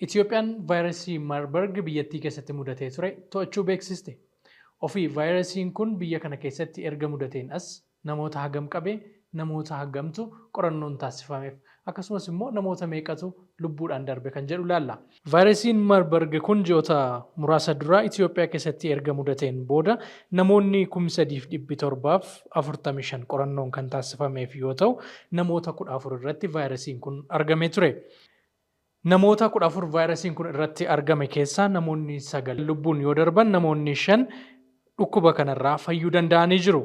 Itiyoophiyaan vaayrasii Marburg biyyattii keessatti mudatee ture to'achuu beeksiste. Ofii vaayrasiin kun biyya kana keessatti erga mudateen as namoota hagam qabe, namoota hagamtu qorannoon taassifameef, akkasumas immoo namoota meeqatu lubbuudhaan darbe kan jedhu ilaalla. Vaayrasiin Marburg kun ji'oota muraasa dura Itiyoophiyaa keessatti erga mudateen booda namoonni kum 3 fi 745 qorannoon kan taassifameef yoo ta'u, namoota 14 irratti vaayrasiin kun argamee ture. Namoota 14 vaayirasiin kun irratti argame keessaa namoonni 9 lubbuun yoo darban namoonni 5 dhukkuba kanarraa fayyuu danda'anii jiru.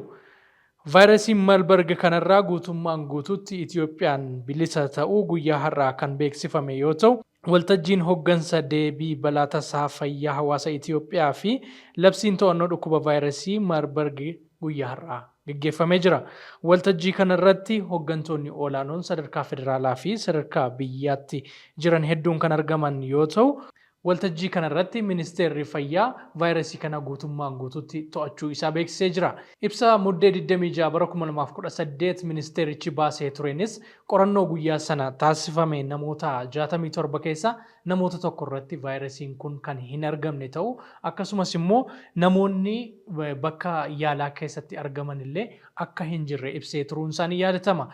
Vaayirasii Malbarg kanarraa guutummaan guutuutti Itiyoophiyaan bilisa ta'uu guyyaa har'aa kan beeksifame yoo ta'u, waltajjiin hoggansa deebii balaa tasaa fayyaa hawaasa Itiyoophiyaa fi labsiin to'annoo dhukkuba vaayirasii Marbarg guyyaa har'aa. gaggeeffamee jira. Waltajjii kana irratti hoggantoonni olaanoon sadarkaa federaalaa fi sadarkaa biyyaatti jiran hedduun kan argaman yoo ta'u, waltajjii kana irratti Ministeerri Fayyaa vaayirasii kana guutummaan guutuutti to'achuu isaa beeksisee jira. Ibsa Muddee 26 bara 2018 ministeerichi baasee tureenis qorannoo guyyaa sana taasifame namoota 67 keessaa namoota tokko irratti vaayirasiin kun kan hin argamne ta'uu akkasumas immoo namoonni bakka yaalaa keessatti argaman illee akka hin jirre ibsee turuun isaa ni yaadatama.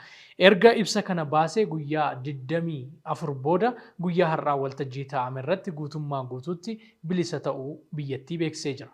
Erga ibsa kana baasee guyyaa 24 booda guyyaa har'aa waltajjii taa'ame irratti guutummaa guutuutti bilisa ta'uu biyyattii beeksisee jira.